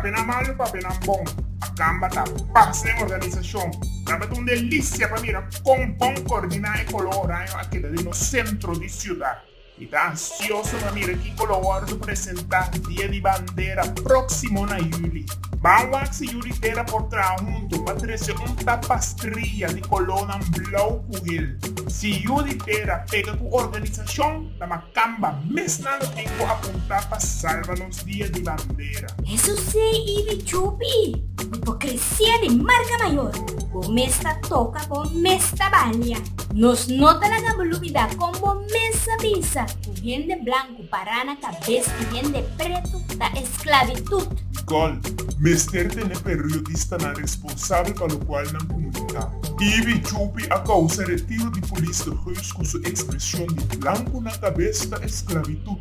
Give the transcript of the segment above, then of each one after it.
Papenan malu, papenan bon, Acamba ta paz den organisacion. Tabata un delicia pa mira con bon coordina e color oraño a keda den nos centro di ciudad. Mi ta ansioso pa mira ki color worde presenta dia di bandera proximo na juli. Ban wak si yu di tera por traha huntu pa trese un tapastria di kolónan blou ku hil. Si yu di tera pega ku organisashon, ta ma kamba mesnan lo tin ku apuntá pa salva nos dia di bandera. Eso sí, i di chupi, i por kresé di marka mayor, bo mes ta toka, bo mes ta balia. Nos no ta laga bo lubidá kon bo mes a bisa ku hende blanku. Pará na kabes di hende pretu ta esklabitut. Gòl, Mester tene periodistanan responsabel pa lokual nan komunitat. Ibi Chupi a kousa retiro di polis de Geus ku su ekspreshon di blanku na kabes ta esklabitut.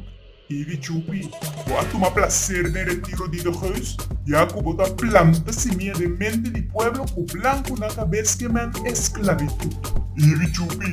Ibi Chupi, bo a tuma plaser den retiro di de Geus, ya ku bo ta planta simia den mente di pueblo ku blanku na kabes ke men esklabitut. Ibi Chupi,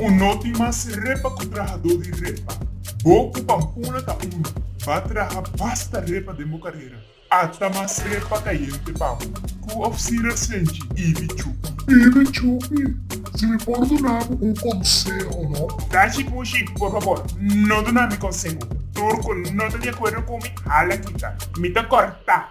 Un noti mas repa ku trahadó di repa. Bo ku Pampuna ta unu, ba traha basta repa den bo karera. Ata mas repa kayente pa bo ku òf sira senchi Ibi Chupi. Ibi Chupi, si mi por duna bo un konseho no. Tachi Pushi, por fabor, no duna mi konseho. Tur ku no ta di akuerdo ku mi, hala kita. Mi ta kòrtá.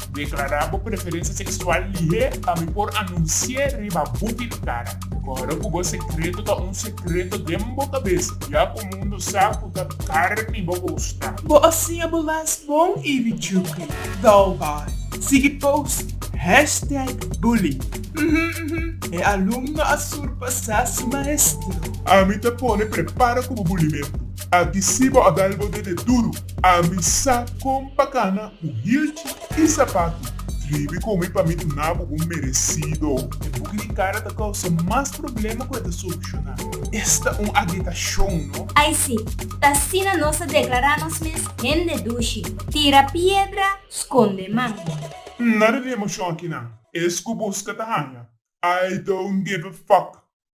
Deklará bo preferensia seksual lihé pa mi por anunsié riba bu tintara. Kòrda ku bo sekreto ta un sekreto den bo kabesa, ya ku mundu sa ku ta karni bo kosta. Bo a siña bo las bon i richukri. Dal bai. Sigui post. Hashtag Bully. Uhumm uhumm. E alumno a surpasá su maestro. Ami ta pone prepara ku bo bulimentu. A disi bo a gal bo dede duru, ami sa kon pa kana bu hirchi i sapatu. Tribi ku mi pa mi duna bo bo meresido. E buki di kara ta kousa mas problema ku e ta solushoná. Esta un agitashon, no? Ai si, ta asina nos ta deklará nos mes hende dushi. Tira piedra, skonde man. N nada di emoshon akinan. Es ku buska ta haña. I don't give a fuck.